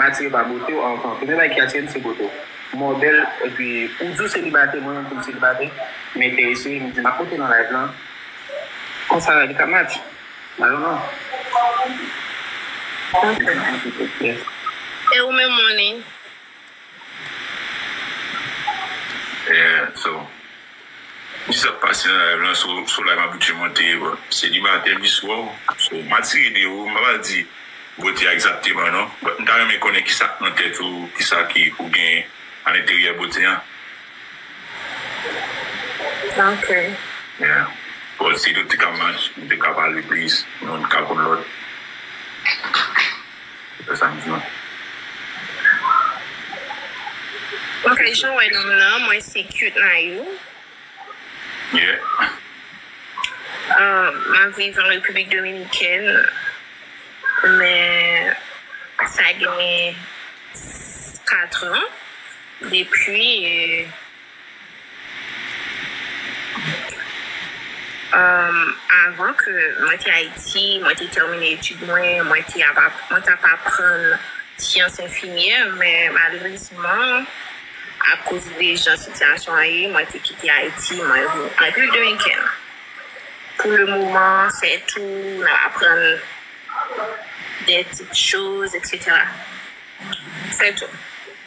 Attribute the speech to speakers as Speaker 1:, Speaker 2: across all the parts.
Speaker 1: Atire pa bote w anvan. Premye bagay ki atire m se bote w. Mò bèl epi ou di w selibate, mwen menm tou m selibate. M enterese, m di m ap monte nan live lan. Konsa li ka match. I don't know. Ok.
Speaker 2: Yes. E ou menm Moni?
Speaker 3: Yeah, so. Kisa kap pase nan live lan sou sou live abitye monte yo selibatè biswa ou so ma tire de ou mpa pral di bote a egzakteman non but mta renmen konnen kisa k nan tèt ou kisa ki ou gen alenteryè bote an
Speaker 2: ok. Yeah
Speaker 3: bon si nou t ka match nou t ka pale plis nou t ka konn lòt.
Speaker 2: Epa sa m di non. Ok janw wè nonm nan mwen se cute nayou. Yeah. Map viv an repiblik dominikèn men sa gen 4 an depi Avan ke mwen te Ayiti, mwen te tèmine etid mwen, mwen te ap mwen t ap aprann syans enfimyè men malerezman akoz de jan sitiyasyon an ye mwen te kite Ayiti mwen vin Repiblik Dominikèn. Pou le moman se tou m ap aprann de ti choz etsetera se tou.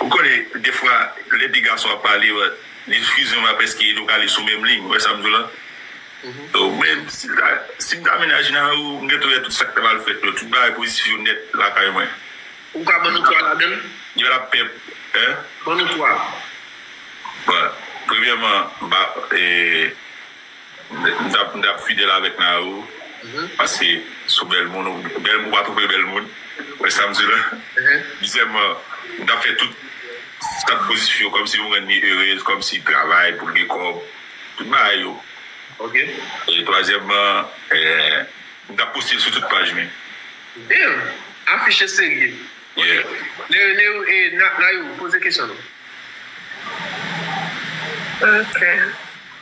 Speaker 4: Ou konnen
Speaker 3: defwa lè de gason ap pale li fizyon va prèske edo kale sou menm liy ou wè sam diw la men sim ta mennaj Nayou m gentan wè tout sak ta pral fèt yo tout bagay pozitif yo nèt lakay mwen Ou ka ban
Speaker 4: nou 3 ladann? Yo lap
Speaker 3: pè Ban nou 3
Speaker 4: Bon
Speaker 3: premyèman m pa. M tap m tap fidèl avèk Nao paske sou bèl moun ou bèl moun ou pa twouve bèl moun ou wè sam di la dezyèman m tap fè tout sak pozitif yo kòmsi m rann li erez kòmsi travay poul gen kòb tout bagay yo
Speaker 4: e
Speaker 3: twazyèman m tap postel sou tout paj li
Speaker 4: damn afiche serye Nayou poze kesyon nou.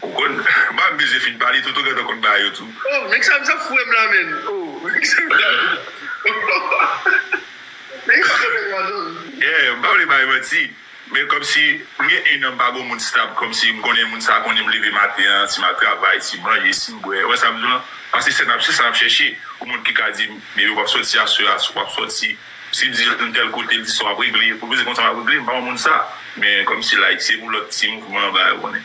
Speaker 3: Ou konn banm beze fin pale toto gentan konn ba yo tou. Oh men kisa misye ap
Speaker 4: foure m la menn oh men kisa misye ap men kisa misye ap la menn. Yeah m pa vle bay manti men kòmsi m gen 1 an m pa gon moun stab kòmsi m konnen moun sa konnen m leve maten an si map travay si m manje si m bwè wè sa m di w lan pase se nap se sa nap chèche pou moun ki ka di m bebe wap sòti aswè a si w pap sòti si m di l m tèl kote l di sa wap regle pou l vin di konsa wap regle m pa yon moun sa men kòmsi like se pou lòt ti mouvman ba yo konnen.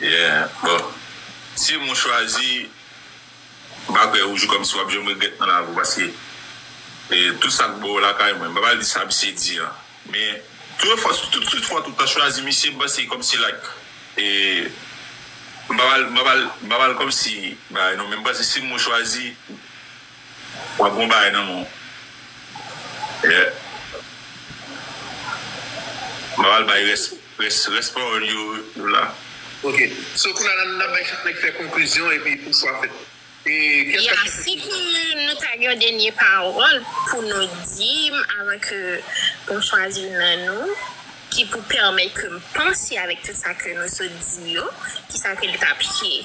Speaker 4: Yeah
Speaker 3: bon sim ou chwazi bagay ou jou kòm si wap janm regrèt nan lavi ou paske tout sak bon lakay mwen mpa pral di sa misye di an men tout fwa tout fwa ou ta chwazi misye mwen panse kòm si like mpa pral mpa pral mpa pral kòm si bagay non men mwen panse sim ou chwazi wap gon bagay nan menw yeah mpa pral bay rès. Rès rès pawòl yo yo la. Ok so
Speaker 4: kounye a la nap bay chak nèg fè konklizyon epi pou chwa fèt e kèl Ya
Speaker 2: kapsyon si ke nou ta gen yon dènye pawòl pou nou di m avan ke m chwazi youn nan nou ki pou pèmèt ke m panse avèk tout sa ke nou sot di yo kisa ke li tap ye.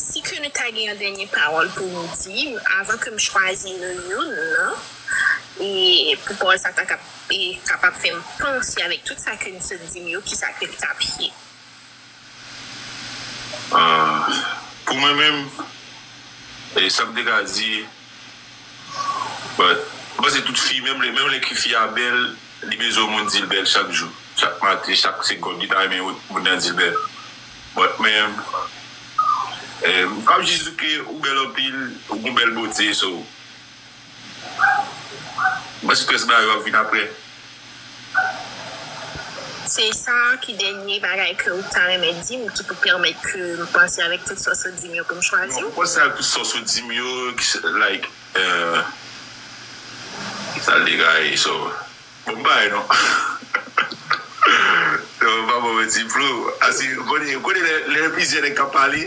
Speaker 2: Si ke nou ta gen yon dènye pawòl pou nou di avan ke m chwazi nou youn nan, e pou pawòl sa ta kapab fè m panse avèk tout sa ke nou sot di m yo, kisa ke l t ap ye?
Speaker 3: Pou mwen menm, sa m te ka di. But m panse tout fi menm lè menm lè ki fi a bèl li bezwen moun dil bèl chak jou chak maten chak segond li ta renmen yon moun nan dil bèl but menm m pap jis di ke ou bèl anpil ou gon bèl bote so m panse tout rès bagay yo ap vin aprè.
Speaker 2: Se sa a ki dènye bagay ke ou ta renmen di m ki pou pèmèt ke m panse avèk tout sòs ou di m yo pou m chwazi w? Mwen panse avèk tout sòs ou
Speaker 3: di m yo ki se like Sal de kay so Bon bagay non Non m pa ba w manti Flo Aswir ou konnen lè plizyè nèg k ap pale.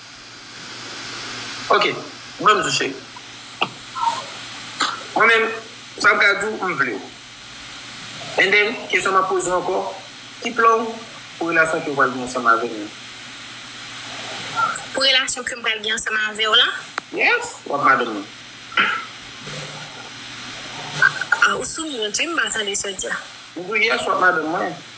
Speaker 1: Ok mwen menm Juche mwen menm sa mka diw m vle w and then kesyon map poze w ankò ki plan w pou relasyon ke w pral gen ansanm avèm nan?
Speaker 2: Pou relasyon kem pral gen ansanm avèw lan? Yes wap
Speaker 1: madanm mwen.
Speaker 2: Ah ou sou mute wi m pa tande sa w di a. M diw yes wap
Speaker 1: madanm mwen.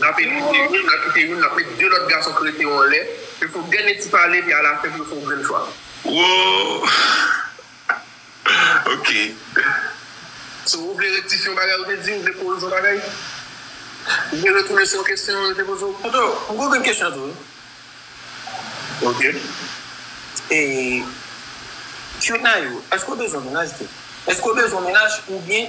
Speaker 1: N ap evite youn, n ap kite youn, n ap met de lòt gason k rete yo anlè, yo fè w dènye ti pale epi alafen pou yo fè w grenn chwa. Woo!
Speaker 3: Ok.
Speaker 1: So, ou vle rektifye yon bagay ou te di? Ou vle korije yon bagay? Ou vle retounen sou yon kesyon yo te poze w? Tonton, m gen yon grenn kesyon tou wi. Ok. E, Cutnayou, èske ou bezwen mennaj tou? Èske ou bezwen mennaj oubyen.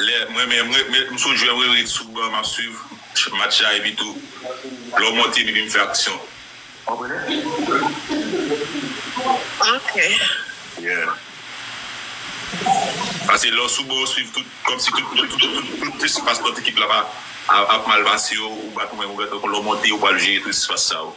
Speaker 3: Lè m renmen m ret m sou jwè m ret sou ban m ap swiv match la epi tou lè w monte m epi m fè aksyon. Ok. Yeah.
Speaker 4: Pase lè w sou ban w swiv tout kòmsi tout tout espas lòt ekip la ap mal pase yo ou bat mwen ou lè w monte ou pral jere tout espas sa yo.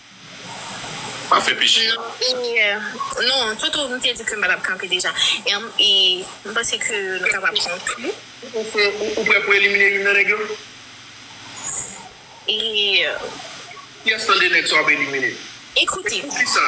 Speaker 4: Pa fè peche a. Non e
Speaker 2: non toutou m te di ke m pa tap kanpe deja e m panse ke nou kapab konkli. Ou
Speaker 1: prè pou elimine youn nan nèg yo? E.
Speaker 2: Kiyès
Speaker 1: nan 2 nèg sa w ap elimine? Ekoute. E poukisa?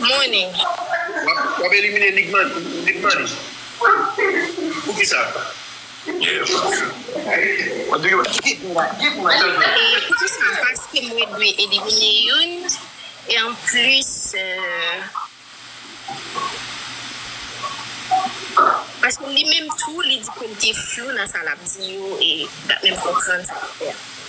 Speaker 2: Morning.
Speaker 1: W ap elimine Libmany. Poukisa?
Speaker 2: Poukisa? Paske mwen dwe elimine youn e anplis paske li menm tou li di ke li te flou nan sa l ap di yo e li pa menm konprann sa l ap fè a.